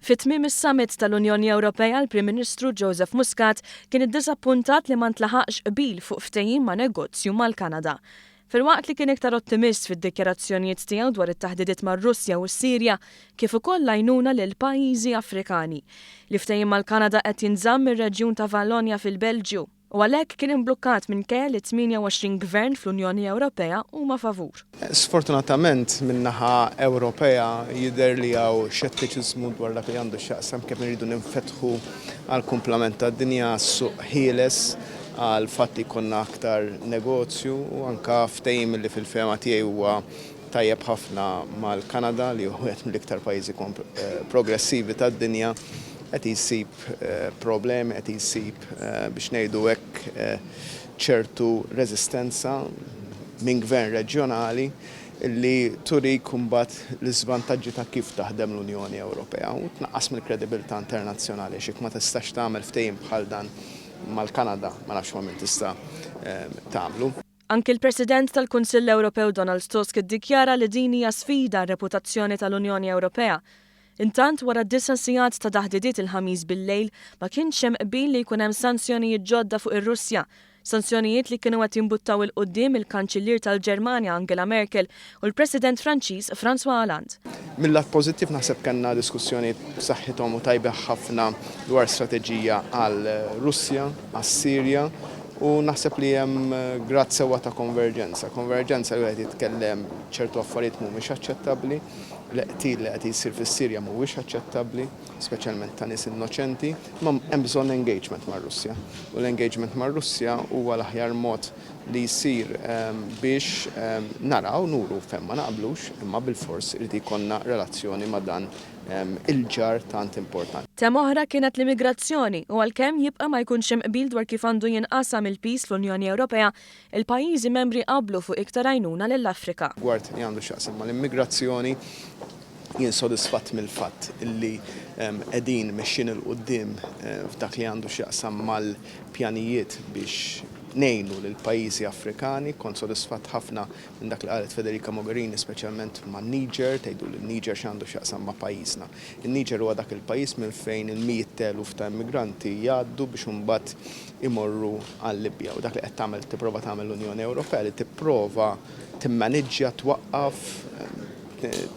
Fi tmiem is-Summit tal-Unjoni Ewropea l-Prim Ministru Joseph Muscat kien iddiżappuntat li ma ntlaħaqx qbil fuq ftehim ma' negozju mal-Kanada. Filwaqt li kien iktar ottimist fid-dikjarazzjonijiet tiegħu dwar it-taħdidiet mar-Russja u s-Sirja kif ukoll l-għajnuna lil pajjiżi Afrikani. L-ftehim mal-Kanada qed jinżamm mir-reġjun ta' Vallonja fil-Belġju. u għalhekk kien imblukkat minkejja li 28 gvern fl-Unjoni Ewropea huma favur. Sfortunatament, min-naħa Ewropea jidher li hawn xettiċiżmu dwar dak li għandu x'jaqsam kemm irridu ninfetħu għall-kumplament tad-dinja, għas-suq ħieles, għal fatt li jkollna aktar negozju u anke ftehim li fil-fehma tiegħi huwa tajjeb ħafna mal-Kanada li hu wieħed mill-iktar pajjiżi progressivi tad-dinja qed jsib problemi, qed jsib biex ngħidu hekk, ċertu reżistenza minn gvern reġjonali li turik imbagħad l-iżvantaġġi ta' kif taħdem l-Unjoni Ewropea u tnaqqas mill-kredibilità internazzjonali għax jekk ma tistax tagħmel ftehim bħal dan mal-Kanada ma nafx ma' min tista' tagħmlu. Anki l-President tal-Kunsill Ewropew Donald Tusk iddikjara li din hija sfida għar-reputazzjoni tal-Unjoni Ewropea Intant, wara disa' sigħat ta' taħdidiet il-Ħamis bil-lejl, ma kienx hemm qbil li jkun hemm sanzjonijiet ġodda fuq ir-Russja. Sanzjonijiet li kienu qed jimbuttaw 'il quddiem il-Kanċillier tal-Ġermanja Angela Merkel u l-President Franċiż François Hollande. Mil-lat pożittiv naħseb kellna diskussjonijiet b'saħħithom u tajbih ħafna dwar strateġija għal Russja, għas-Sirja u naħseb li hemm grad sewwa ta' konverġenza. Konverġenza li wieħed jitkellem ċertu affarijiet mhumiex aċċettabbli. L-qtil li qed jsir fis-Sirja mhuwiex aċċettabbli, speċjalment ta' nies innoċenti, imma hemm bżonn engagement mar-Russja. U l-engagement mar-Russja huwa l-aħjar mod li jsir biex naraw, nuru fejn ma naqblux, imma bilfors irid jkollna relazzjoni ma' dan il-ġar tant importanti. Tema oħra kienet l-immigrazzjoni u għalkemm jibqa' ma jkunx hemm qbil dwar kif għandu jinqasam il-piż fl-Unjoni Ewropea, Il-pajjiżi membri qablu fuq iktar għajnuna lill-Afrika. Rigward li għandu x'jaqsam mal-immigrazzjoni, jien sodisfatt mill-fatt li qegħdin mexjin 'il quddiem f'dak li għandu x'jaqsam mal-pjanijiet biex ngħinu lill-pajjiżi Afrikani. Kont sodisfatt ħafna minn dak li qalet Federica Mogherini speċjalment man-Niger, tgħidu li n-Niger x'għandu x'jaqsam ma' pajjiżna. In-Niger huwa dak il-pajjiż minn fejn il-mijiet t'eluf ta' immigranti jgħaddu biex imbagħad imorru għal-Libja u dak li qed tagħmel tipprova tagħmel l-Unjoni Ewropea li tipprova timmaniġġja, twaqqaf,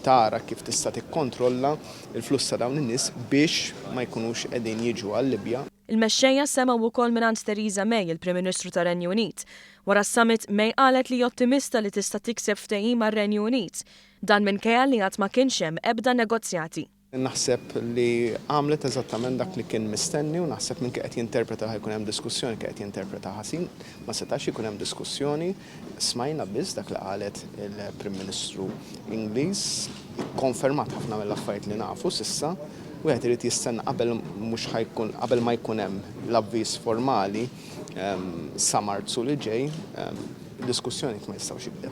tara kif tista' tikkontrolla l-fluss ta' dawn in-nies biex ma jkunux qegħdin jiġu għal-Libja. Il-mexxejja semgħu wkoll mingħand Theresa May, il-Prim Ministru tar-Renju Unit. Wara s-summit, May qalet li hi ottimista li tista' tikseb ftehim għar-Renju Unit. Dan minkejja li għad ma kienx hemm ebda negozjati. Naħseb li għamlet eżattament dak li kien mistenni u naħseb min kien qed jinterpreta li ħa jkun hemm diskussjoni kien qed jinterpreta ħażin. Ma setax ikun hemm diskussjoni. Smajna biss dak li qalet il-Prim Ministru Ingliż. Ikkonfermat ħafna mill-affarijiet li nafu s'issa. Wieħed irid jistenna qabel mhux ħa jkun qabel ma jkun hemm l-avviż formali sa Marzu li ġej, diskussjonijiet ma jistgħux jibdew.